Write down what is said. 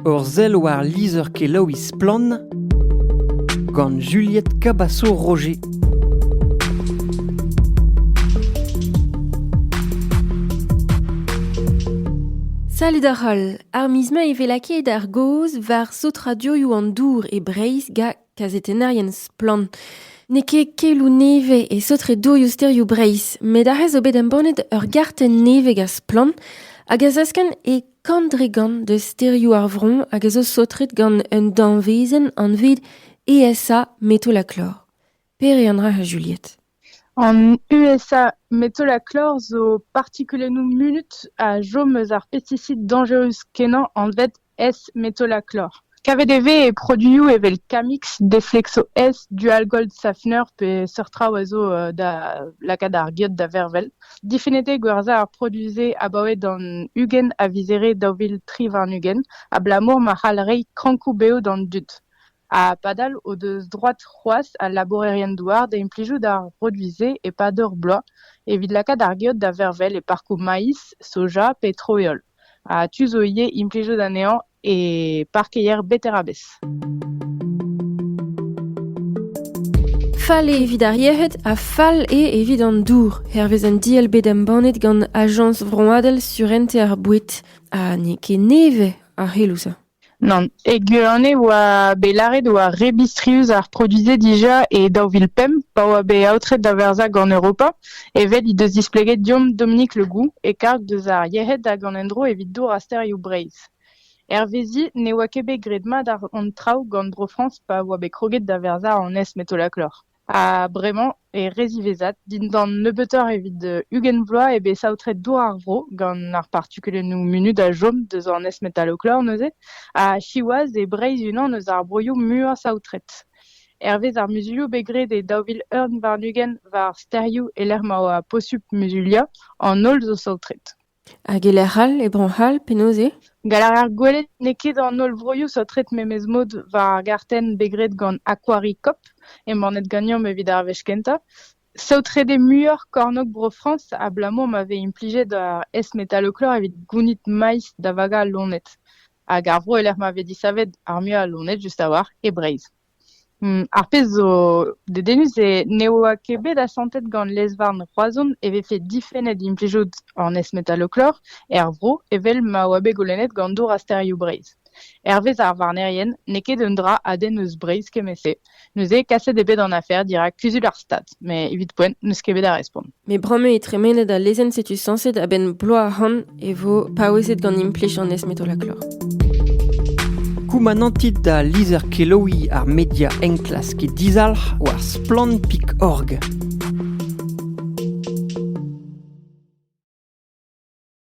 Ur sell war lizher-kelaouiñ Splann! gant Juliette Cabaço-Roger. Salut ar holl! Ar miz mai e vez lakaet ar gaoz war sotradioioù an dour e Breizh ga kazetennerien Splann! N'eo ket keloù nevez e sotredurioù sterioù Breizh, met aze zo bet embannet ur gartenn nevez gant Splann! hag a zaskan e Kant-dre-gant deus stêrioù ar vro hag a zo saotret gant un danvezenn anvet ESA metolachlor. Paerean a ra Juliette. An USA metolachlor zo partikulennoù munut a chom eus ar pesticid danjerus kenañ anvet S-metolachlor. Kavet e vez e produioù evel Camix, Deflexo S, Dual Gold Safener pe seurt traoù a zo da lakaat ar geot da vervel. Difennet eo gwerzhañ ar produioù-se abaoe d'an ugent a vizere daou vil tri warn-ugent abalamour ma c'hall reiñ krankoù bev d'an dud. Ha padal o deus droad c'hoazh al labourerien-douar da implijout ar produioù-se e-pad ur bloaz evit lakaat ar geot da vervel e parkoù maïs, soja pe troiol. Ha tu zo ivez implijout anezhañ e parkeier Beterabez. Fall eo evit ar yec'hed ha fall eo evit an dour, hervez an diell bet embannet gant Ajañs vroadel surentez ar boued. Ha n'eo ket nevez ar c'heloù-se. Nann, e Guerane e oa bet lâret e oa re bistrius ar produiñ-se dija e daou vil pemp pa oa bet aotret da verzhañ gant Europa, evel he deus displeget deomp Dominique Le Goux e karg deus ar yec'hed hag an endro evit dour ha sterioù Breizh. Hervezi ne oa ket bet graet mat hon traoù gant Bro-Frañs pa oa bet kroget da verzhañ an es-metolaklor. Ha bremañ eo re ziwezhat, dindan nebeutoc'h evit ugent vloaz eo bet saotret dour ar vro gant ar partikulennoù munud a chom deus an S-Metaloclaw neuze, ha siwazh eo Breizh unan eus ar broioù muiañ saotret. Hervez ar muzulioù bet graet e daou vil ugent warn-ugent war stêrioù e-lec'h ma oa posupl muzuliañ, an holl zo saotret. Hag e-lec'h all, e Bro-C'hall, penaos eo ? Gall a rar gwelet n'eo ket an holl vroioù saotret memes mod war ar gartenn bet graet gant Aquaricop, embannet ganeomp evit ar wech kentañ. Saotret eo muioc'h kornôg Bro-Frañs abalamour ma vez implijet ar S-metalochlor evit gounit maiz da vagañ al loened. Hag ar vro e-lec'h ma vez disavet ar muiañ a loened just a-walc'h e Breizh. Ar pezh zo dedennus eo ne oa ket bet asantet gant lez-varn Roazhon e vefe difennet implijout an S-metalloclor er vro evel ma oa bet goulennet gant Dour ha Stêrioù Breizh. Hervez ar varnerien n'eo ket un dra a denn eus Breizh kement-se. Neuze kaset eo bet an afer dirak Kuzul ar Stad. Met evit poent, n'eus ket bet a respont. Met bremañ eo tremenet al lezenn setu sañset a-benn bloaz ahont e vo paouezet gant implij an esmetolaklor. Koumanantit da lizher kelaouiñ ar media enklask e dizalc'h war splann.org.